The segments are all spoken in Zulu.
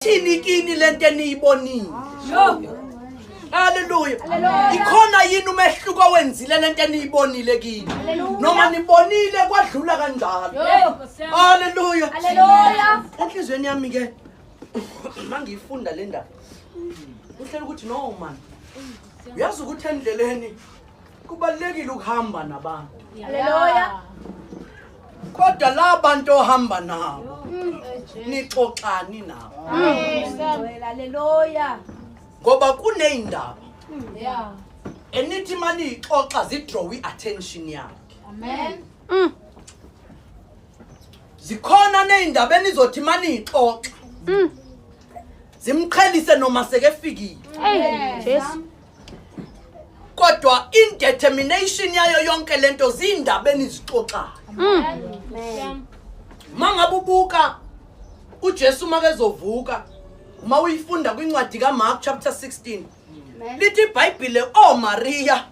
Thini kini lento eniyibonile. Haleluya. Ikhona yini umehluko owenzile lento eniyibonile kini? Noma nibonile kwadlula kanjalo. Haleluya. Haleluya. Enhlizweni yami ke mangiyifunda le ndaba. Uhlela ukuthi no man. Uyazi ukuthi endleleni kubalekile ukuhamba nabantu. Haleluya. kodwa la bantu ohamba nabo nixoxani nabo haleluya ngoba kuneyindaba yeah enithi mani ixoxa zidraw iattention yakhe amen mm. zikhona nezindaba enizothi mani ixoxa mm. zimqhelise noma sekefikile hey jesu kodwa indetermination yayo yonke lento zindaba enizixoxayo mm. mangabe ubuka uJesu makezovuka uma uyifunda kwincwadi kaMark chapter 16 lithi iBhayibhile oh Maria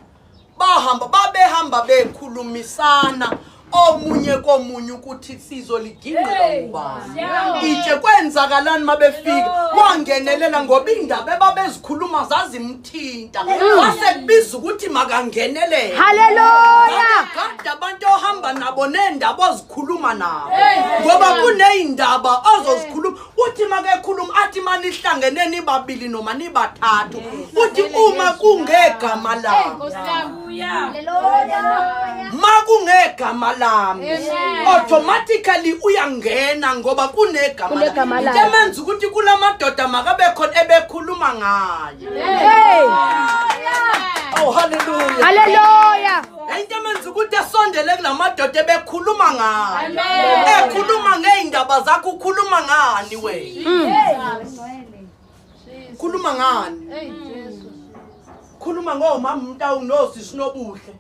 bahamba babehamba bekhulumisana omunye komunye ukuthi sizoligingqela ubani itshe kwenzakalani mabefika wangenelela ngoba indaba ebabezikhuluma zazimthinta wase kubiza ukuthi makangenelele haleluya gada abantu ohamba nabo nendaba ozikhuluma nabo ngoba kuneyindaba ozozikhuluma uthi makekhuluma athi manihlangene nibabili noma nibathathu uthi uma kungegama lami makungegama lami automatically uyangena ngoba kunegama into emenza ukuthi kula madoda makabe khona ebekhuluma ngayo oh haleluya haleluya Into emenza ukuthi esondele kulamadoda ebekhuluma ngani. Ekhuluma ngeindaba zakho ukhuluma ngani wena? Hmm. Khuluma ngani? Khuluma ngomama umntawu nosi sinobuhle.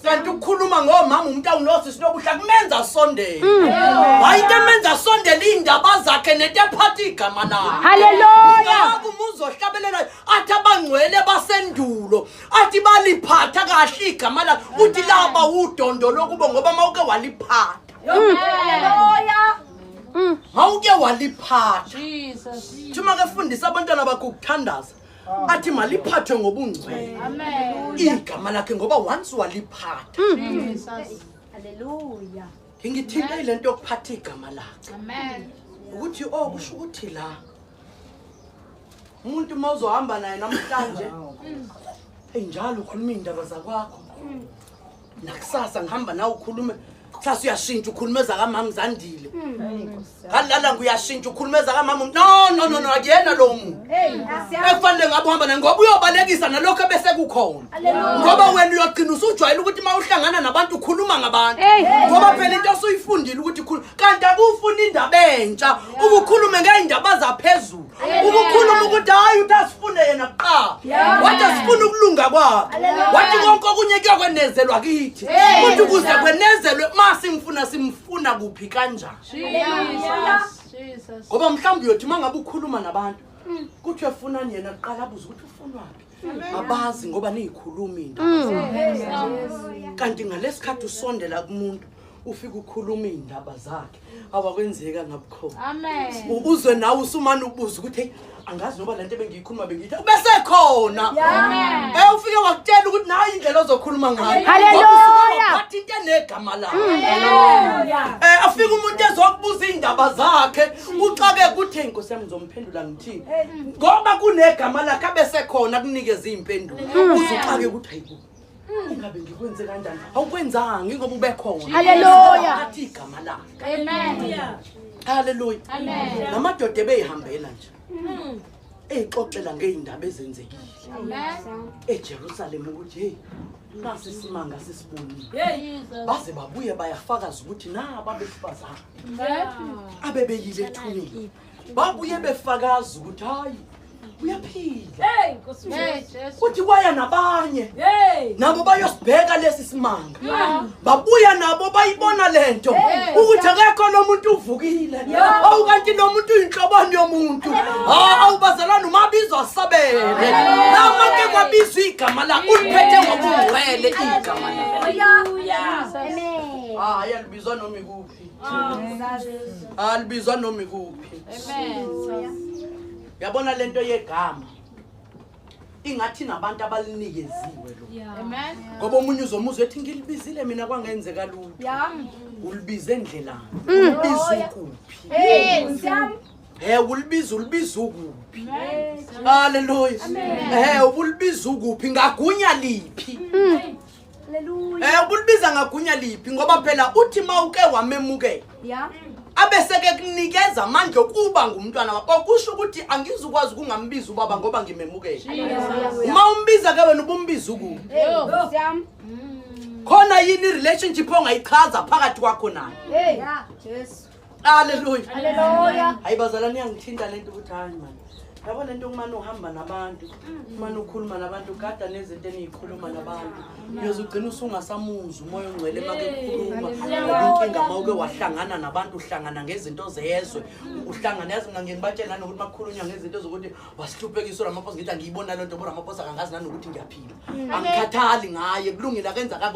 Kanti ukukhuluma ngomama umntawu nosi sinobuhle kumenza asondele. Hmm. Hayi into emenza asondele indaba zakhe nento ephatha igama lakhe. Haleluya. Ngoba umuzohlabelela athi abangcwele basendulo athi baliphatha kahle igama lakhe uthi laba udondo lokubo ngoba mawuke waliphatha haleluya mm. mawuke waliphatha jesus thuma ke fundisa abantwana bakho ukuthandaza athi maliphathwe ngobungcwele igama lakhe ngoba once waliphatha mm. haleluya ngingithinta ile nto yokuphatha igama lakhe ukuthi o oh, kusho ukuthi la umuntu uma uzohamba naye namhlanje eyi njalo ukhuluma iy'ndaba zakwakho nakusasa ngihamba nawe ukhulume kusasa uyashintsha ukhuluma ezakamama zandile ngalala nguyashintsha ukhuluma ezakamama no no no no akuyena lowo muntu ekufanele ngabe uhamba naye ngoba uyobalekisa nalokho ebesekukhona ngoba wena uyogcina usujwayele ukuthi uma uhlangana nabantu ukhuluma ngabantu ngoba phela into osuyifundile ukuthi khulu kanti akufuni indaba entsha ukukhulume ngey'ndaba zaphezulu ukukhuluma ukuthi hayi uthi asifune yena kuqala wathi asifune ukulunga kwakhe wathi konke okunye kuyokwenezelwa kithi kuthi ukuze kwenezelwe uma simfuna simfuna kuphi kanjani ngoba mhlawumbe uyothi uma ngabe ukhuluma nabantu hmm. kuthiwe funani yena kuqala abuze ukuthi ufunwaphi abazi ngoba niyikhulumi into mm. kanti ngalesikhathi usondela kumuntu ufike ukhuluma iy'ndaba zakhe awakwenzeka ngabukhona uzwe nawe usumane ubuze ukuthi angazi noba le nto ebengiyikhuluma bengiyithi ubesekhona e ufike wakutshela ukuthi nayo indlela ozokhuluma ngayoathi into enegama lakhe um eh, afike umuntu ezokubuza iy'ndaba zakhe uxake kuthi nkosi yami ngizomphendula ngoba kunegama lakhe abesekhona kunikeza iy'mpendulo hmm. uzuxake ukuthi hayibo hmm. ingabe ngikwenze kanjani awukwenzanga ingoba ubekhona haleluya athi igama lakhe amen haleluya amen namadoda ebeyihambela nje hmm. eyixoxela ngey'ndaba ezenzekile ejerusalema ukuthi heyi nasi isimanga sisibonile baze babuye bayafakaza ukuthi naba besifazane abebeyile ethuneni babuye befakaza ukuthi hayi uyaphila kuthi kwaya nabanye nabo bayosibheka lesi simanga babuya nabo bayibona le nto ukuthi akekho lo muntu uvukile awu kanti lo muntu uyinhlobani yomuntu awu bazalwane umabizo asabele namake kwabizwa igama lakho uliphethe ngokungcwele igama lakho hayi alibizwa noma ikuphi alibizwa noma ikuphi yabona le nto yegama ingathi nabantu abalinikeziwe lo ngoba omunye uzomuzwa ethi ngilibizile mina kwangenzeka lutho ulibize endlelani mm. ulibize ukuphi Eh ulibiza ulibiza ukuphi? Haleluya. Eh ubulibiza ukuphi ngagunya liphi? Mm. Hallelujah. Eh ubulibiza ngagunya liphi ngoba phela uthi mawuke wamemukela. Yeah. Abeseke kunikeza amandla okuba ngumntwana wakho. Okusho ukuthi angizukwazi ukungambiza ubaba ngoba ngimemukele. Uma umbiza ke wena ubumbiza uku. Siyam. Khona yini relationship ongayichaza phakathi kwakho naye? Hey. Jesu. Haleluya. Haleluya. Hayi bazalwane yangithinta lento ukuthi hayi manje. Yabo lento kumane uhamba nabantu, kumane ukhuluma nabantu, gada nezinto eniyikhuluma nabantu. Uyoze ugcina usungasamuzi umoya ongcwele uma kukhuluma. Inkinga uma uke wahlangana nabantu uhlangana ngezinto zezwe. Uhlangana yazi mina ngibatshela nanokuthi makukhulunywa ngezinto zokuthi wasihluphekisa uRamaphosa ngithi angiyibona lento uRamaphosa kangazi nanokuthi ngiyaphila. Angikhathali ngaye kulungile akenza